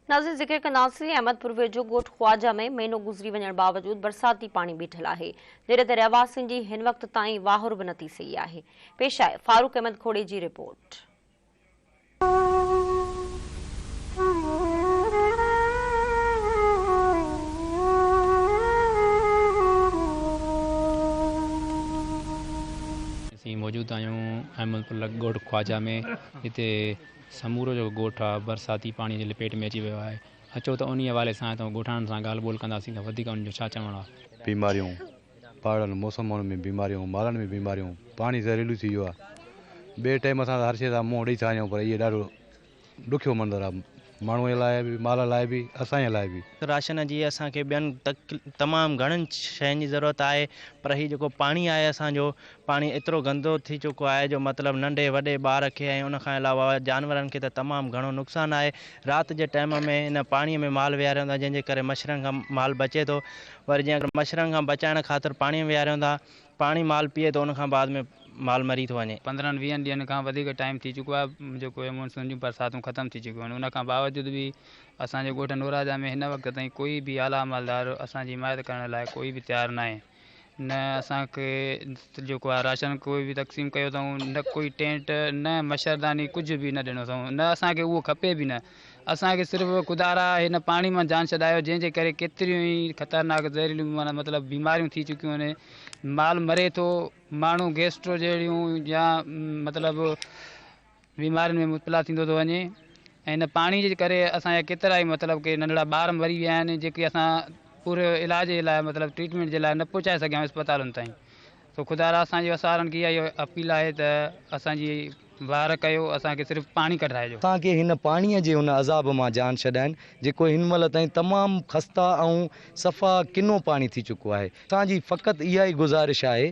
ناظرين ذڪر ڪنداسين احمد پور ويجهو ڳوٺ خواجه ۾ مهينو گذري وڃڻ باوجود برساتي پاڻي بيٺل آهي جڏهن ته رهواسين جي هن وقت تائين واهر به نه ٿي سهي آهي پيش آهي فاروق احمد کوڙي جي رپورٽ موجود آهيون احمد پور ڳوٺ خواجه ۾ هتي سمورو جيڪو ڳوٺ آ برساتي پاڻي جي لپيٽ ۾ اچي ويو آهي اچو ته انهي حوالي سان اتان ڳوٺاڻن سان ڳالهه ٻولهه ڪنداسين ته وڌيڪ انهن جو ڇا چوڻ آ. بيماريون پاڙن موسمن ۾ بيماريون مالن ۾ بيماريون پاڻي زهريلو ٿي ويو آ ٻئي ٽيم اسان ته هر شي سان منهن ڏئي ٿا وڃون پر اهي ڏاڍو ڏکيو منظر آ ماڻهونء لاء به مال لاء به اسانئي لاء به. راشن جي اسان کي ٻين تمام گهڻن شين جي ضرورت آهي پر هي جيڪو پاڻي آهي اسان جو پاڻي ايترو گندو ٿي چڪو آهي جو مطلب ننڍي وڏي ٻار کي ۽ ان کان علاوه جانورن کي ته تمام گهڻو نقصان آهي. رات جي ٽائيم ۾ ان پاڻي ۾ مال ويهاريون ٿا جنهن جي ڪري مڇرن کان مال بچي ٿو وري جي اگر مڇرن کان بچائڻ خاطر پاڻي ۾ ويهاريون ٿا پاڻي مال پيئي ٿو ان کان بعد ۾ مال مري ٿو وڃي. پندرهن ويهن ڏينهن کان وڌيڪ ٽائيم ٿي چڪو آهي جيڪو اهي مون سون جون برساتون ختم ٿي چڪيون آهن ان کان باوجود به اسان جي ڳوٺ نوراجا ۾ هن وقت تائين ڪوئي به اعليٰ عملدار اسان جي حمايت ڪرڻ لاء ڪوئي به تيار ناهي. نه اسان کي جيڪو آهي راشن ڪوئي به تقسيم ڪيو اٿئون نه ڪوئي ٽينٽ نه مڇرداني ڪجهه به نه ڏنو اٿئون نه اسان کي اهو کپي به نه اسان کي صرف خدا را هن پاڻي مان جان ڇڏايو جنهن جي ڪري ڪيتريون ئي خطرناڪ زهريليون معنيٰ مطلب بيماريون ٿي چڪيون آهن مال مري ٿو ماڻهو گيسٽرو جهڙيون يا مطلب بيمارين ۾ مبتلا ٿيندو ٿو وڃي ۽ ان پاڻي جي ڪري اسان جا ڪيترا ئي مطلب ڪي ننڍڙا ٻار مري ويا آهن جيڪي اسان پوري علاج جي لاء مطلب ٽريٽمينٽ جي لاء نه پهچائي سگهيا آهيون اسپتالن تائين سو خدا را اسان جي وسارن کي اها ئي اپيل آهي ته اسان جي واهر ڪيو اسان کي صرف پاڻي ڪڍرائجو. اسان کي هن پاڻي جي ان عذاب مان جان ڇڏائين جيڪو هن مهل تائين تمام خسته ۽ صفا ڪنو پاڻي ٿي چڪو آهي اسان جي فقط اها ئي گذارش آهي